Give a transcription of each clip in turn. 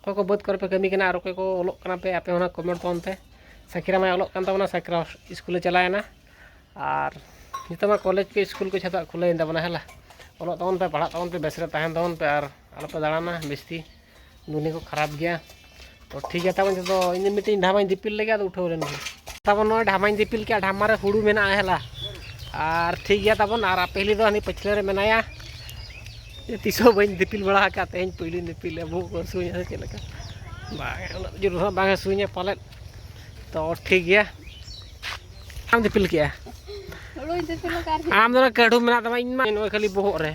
ᱚᱠᱚᱭ ᱠᱚ ᱵᱟᱹᱫᱽ ᱠᱚᱨᱮ ᱯᱮ ᱠᱟᱹᱢᱤ ᱠᱟᱱᱟ ᱟᱨ ᱚᱠᱚᱭ ᱠᱚ ᱚᱞᱚᱜ ᱠᱟᱱᱟ ᱯᱮ ᱟᱯᱮ ᱚᱱᱟ ᱠᱚᱢᱮᱱᱴ ᱛᱟᱵᱚᱱ ᱯᱮ ᱥᱟᱹᱠᱷᱤᱨᱟᱢ ᱢᱟᱭ ᱚᱞᱚᱜ ᱠᱟᱱ ᱛᱟᱵᱚᱱᱟ ᱥᱟᱹᱠᱷᱤᱨᱟᱢ ᱥᱠᱩᱞᱮ ᱪᱟᱞᱟᱣᱮᱱᱟ ᱟᱨ ᱱᱤᱛᱚᱜ ᱢᱟ ᱠᱚᱞᱮᱡᱽ ᱠᱚ ᱥᱠᱩᱞ ᱠᱚ ᱡᱚᱛᱚᱣᱟᱜ ᱠᱷᱩᱞᱟᱹᱣᱮᱱ ᱛᱟᱵᱚᱱᱟ ᱦᱮᱞᱟ ᱚᱞᱚᱜ ᱛᱟᱵᱚᱱ ᱯᱮ ᱯᱟᱲᱦᱟᱜ ᱛᱟᱵᱚᱱ ᱯᱮ ᱵᱮᱥ ᱨᱮ ᱛᱟᱦᱮᱱ ᱛᱟᱵᱚᱱ ᱯᱮ ᱟᱨ ᱟᱞᱚ ᱯᱮ ᱫᱟᱬᱟᱱᱟ ᱵᱤᱥᱛᱤ ᱫᱩᱱᱤᱭᱟᱹ ᱠᱚ ᱠᱷᱟᱨᱟᱯ ᱜᱮᱭᱟ ᱛᱚ ᱴᱷᱤᱠ ᱜᱮᱭᱟ ᱛᱟᱵᱚᱱ ᱡᱚᱛᱚ ᱤᱧ ᱢᱤᱫᱴᱤᱡ ᱰᱷᱟᱢᱟᱧ ᱫᱤᱯᱤᱞ ᱞᱮᱜᱮ ᱟᱫᱚ ᱩᱴᱷᱟᱹᱣ ᱞᱮᱱ ᱜᱮ ᱛᱟᱵᱚᱱ ᱱᱚᱜᱼᱚᱭ ᱰᱷᱟᱢᱟᱧ ᱫᱤᱯᱤᱞ ᱠᱮᱜᱼᱟ ᱰᱷᱟᱢᱟ ᱨᱮ ᱦᱩᱲᱩ ᱢᱮᱱᱟᱜᱼᱟ ᱦᱮᱞᱟ ᱟᱨ ᱴᱷᱤᱠ ᱜᱮᱭᱟ ᱛᱟᱵᱚᱱ ᱟᱨ ᱟᱯᱮ ᱦᱤᱞᱤ ᱫᱚ ᱦᱟᱹᱱᱤ ᱯᱟᱹᱪᱷᱞᱟᱹ ᱨᱮ ᱢᱮᱱᱟᱭᱟ ᱛᱤᱥ ᱦᱚᱸ ᱵᱟᱹᱧ ᱫᱤᱯᱤᱞ ᱵᱟᱲᱟ ᱟᱠᱟᱫ ᱛᱮᱦᱮᱧ ᱯᱳᱭᱞᱳᱧ ᱫᱤᱯᱤᱞᱟ ᱵᱚᱦᱚᱜ ᱠᱚ ᱦᱟᱹᱥᱩᱧᱟ ᱥᱮ ᱪᱮᱫ ᱞᱮᱠᱟ ᱵᱟᱝ ᱩᱱᱟᱹᱜ ᱡᱳᱨ ᱦᱚᱸ ᱵᱟᱝ ᱦᱟᱹᱥᱩᱧᱟ ᱯᱟᱞᱮᱫ ᱛᱚ ᱴᱷᱤᱠ ᱜᱮᱭᱟ ᱟᱢ ᱫᱤᱯᱤᱞ ᱠᱮᱜᱼᱟ ᱟᱢ ᱫᱚ ᱠᱟᱹᱰᱩ ᱢᱮᱱᱟᱜ ᱛᱟᱢᱟ ᱤᱧ ᱢᱟ ᱱᱚᱜᱼᱚᱭ ᱠᱷᱟᱹᱞᱤ ᱵᱚᱦᱚᱜ ᱨᱮ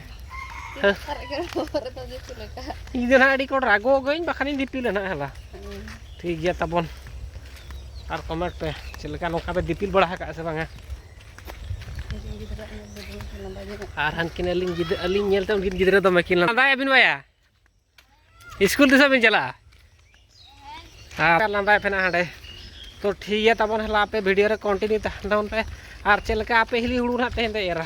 ᱤᱧ ᱫᱚ ᱱᱟᱦᱟᱜ ᱟᱹᱰᱤ ᱠᱚ ᱨᱟᱜᱚ ᱜᱟᱹᱧ ᱵᱟᱠᱷᱟᱱᱤᱧ ᱫᱤᱯᱤᱞᱟ ᱱᱟᱦᱟᱜ ᱦᱮᱞᱟ ᱴᱷᱤᱠ ᱜᱮᱭᱟ ᱛᱟᱵᱚᱱ ᱟᱨ ᱠᱚᱢᱮᱱᱴ ᱯᱮ ᱪᱮᱫ ᱞᱮᱠᱟ ᱱᱚᱝᱠᱟ ᱯᱮ ᱫᱤᱯᱤᱞ ᱵᱟᱲᱟ ᱟᱠᱟᱫᱼᱟ ᱥᱮ ᱵᱟᱝᱟ ᱟᱨ ᱦᱟᱱᱠᱤᱱ ᱟᱹᱞᱤᱧ ᱜᱤᱫᱽᱨᱟᱹ ᱟᱹᱞᱤᱧ ᱧᱮᱞᱛᱮ ᱩᱱᱠᱤᱱ ᱜᱤᱫᱽᱨᱟᱹ ᱫᱚᱢᱮ ᱠᱤᱱ ᱞᱟᱸᱫᱟᱭ ᱟᱹᱵᱤᱱ ᱵᱟᱭᱟ ᱥᱠᱩᱞ ᱛᱤᱥᱚᱜ ᱵᱤᱱ ᱪᱟᱞᱟᱜᱼᱟ ᱟᱨ ᱞᱟᱸᱫᱟᱭ ᱯᱮᱱᱟ ᱦᱟᱸᱰᱮ ᱛᱚ ᱴᱷᱤᱠ ᱜᱮᱭᱟ ᱛᱟᱵᱚᱱ ᱦᱮᱞᱟ ᱟᱯᱮ ᱵᱷᱤᱰᱤᱭᱳ ᱨᱮ ᱠᱚᱱᱴᱤᱱᱤᱭᱩ ᱛᱟᱦᱮᱱ ᱛᱟᱵᱚᱱ ᱯᱮ ᱟᱨ ᱪᱮᱫ ᱞᱮᱠᱟ ᱟᱯᱮ ᱦᱤᱞᱤ ᱦᱩᱲᱩ ᱱᱟᱦᱟᱜ ᱛᱮᱦᱮᱧ ᱫᱚ ᱮᱨᱟ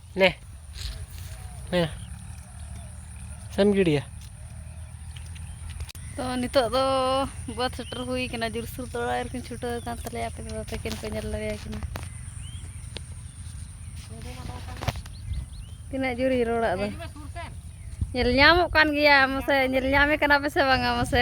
ᱱᱮ ᱱᱮ ᱥᱮᱢ ᱜᱤᱰᱤᱭᱟ ᱛᱚ ᱱᱤᱛᱚᱜ ᱫᱚ ᱵᱟᱹᱫᱽ ᱥᱮᱴᱮᱨ ᱦᱩᱭ ᱠᱟᱱᱟ ᱡᱩᱨᱥᱩᱨ ᱫᱚ ᱚᱲᱟᱜ ᱨᱮᱠᱤᱱ ᱪᱷᱩᱴᱟᱹᱣ ᱟᱠᱟᱱ ᱛᱟᱞᱮᱭᱟ ᱟᱯᱮ ᱫᱟᱫᱟ ᱛᱟᱹᱠᱤᱱ ᱠᱚ ᱧᱮᱞ ᱫᱟᱲᱮᱭᱟ ᱠᱤᱱᱟ ᱛᱤᱱᱟᱹᱜ ᱡᱳᱨᱤᱧ ᱨᱚᱲ ᱟᱫᱚ ᱧᱮᱞ ᱧᱟᱢᱚᱜ ᱠᱟᱱ ᱜᱮᱭᱟ ᱢᱟᱥᱮ ᱧᱮᱞ ᱧᱟᱢᱮ ᱠᱟᱱᱟ ᱯᱮ ᱥᱮ ᱵᱟᱝᱟ ᱢᱟᱥᱮ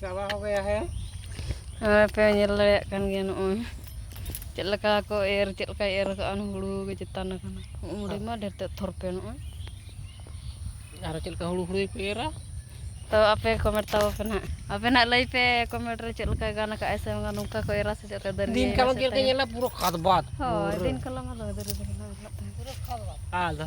ᱪᱟᱵᱟ ᱦᱚ ᱜᱮᱭᱟ ᱦᱮ ᱱᱚᱜᱼᱚᱭ ᱯᱮ ᱧᱮᱞ ᱫᱟᱲᱮᱭᱟᱜ ᱠᱟᱱ ᱜᱮᱭᱟ ᱱᱚᱜᱼᱚᱭ ᱪᱮᱫ ᱞᱮᱠᱟ ᱠᱚ ᱮᱨ ᱪᱮᱫ ᱞᱮᱠᱟᱭ ᱮᱨ ᱟᱠᱟᱫᱼᱟ ᱦᱩᱲᱩ ᱜᱮ ᱪᱮᱛᱟᱱ ᱟᱠᱟᱱᱟ ᱩᱢᱩᱲᱤ ᱢᱟ ᱰᱷᱮᱨ ᱛᱮᱫ ᱛᱷᱚᱨ ᱯᱮ ᱱᱚᱜᱼᱚᱭ ᱟᱨ ᱪᱮᱫ ᱞᱮᱠᱟ ᱦᱩᱲᱩ ᱦᱩᱲᱩ ᱠᱚ ᱮᱨᱟ ᱛᱚ ᱟᱯᱮ ᱠᱚᱢᱮᱱᱴ ᱛᱟᱵᱚ ᱯᱮ ᱱᱟᱦᱟᱜ ᱟᱯᱮ ᱱᱟᱦᱟᱜ ᱞᱟᱹᱭ ᱯᱮ ᱠᱚᱢᱮᱱᱴ ᱨᱮ ᱪᱮᱫ ᱞᱮᱠᱟ ᱜᱟᱱ ᱟᱠᱟᱫᱼᱟᱭ ᱥᱮ ᱵᱟᱝᱟ ᱱᱚᱝᱠᱟ ᱠᱚ ᱮᱨᱟ ᱥᱮ ᱪᱮᱫ ᱞᱮᱠᱟ ᱫᱟᱨᱮ ᱫᱤᱱ ᱠᱟᱞᱚᱢ ᱪᱮᱫ ᱞᱮᱠᱟ ᱧᱮᱞᱟ ᱯᱩᱨᱟᱹ ᱠᱷᱟᱫᱽ ᱵᱟᱫᱽ ᱦᱳᱭ ᱫᱤᱱ ᱠᱟᱞᱚᱢ ᱫᱚ ᱫᱟᱨᱮ ᱫᱚ ᱧᱮᱞᱚᱜ ᱛᱟᱦᱮᱸᱫ ᱟᱫᱚ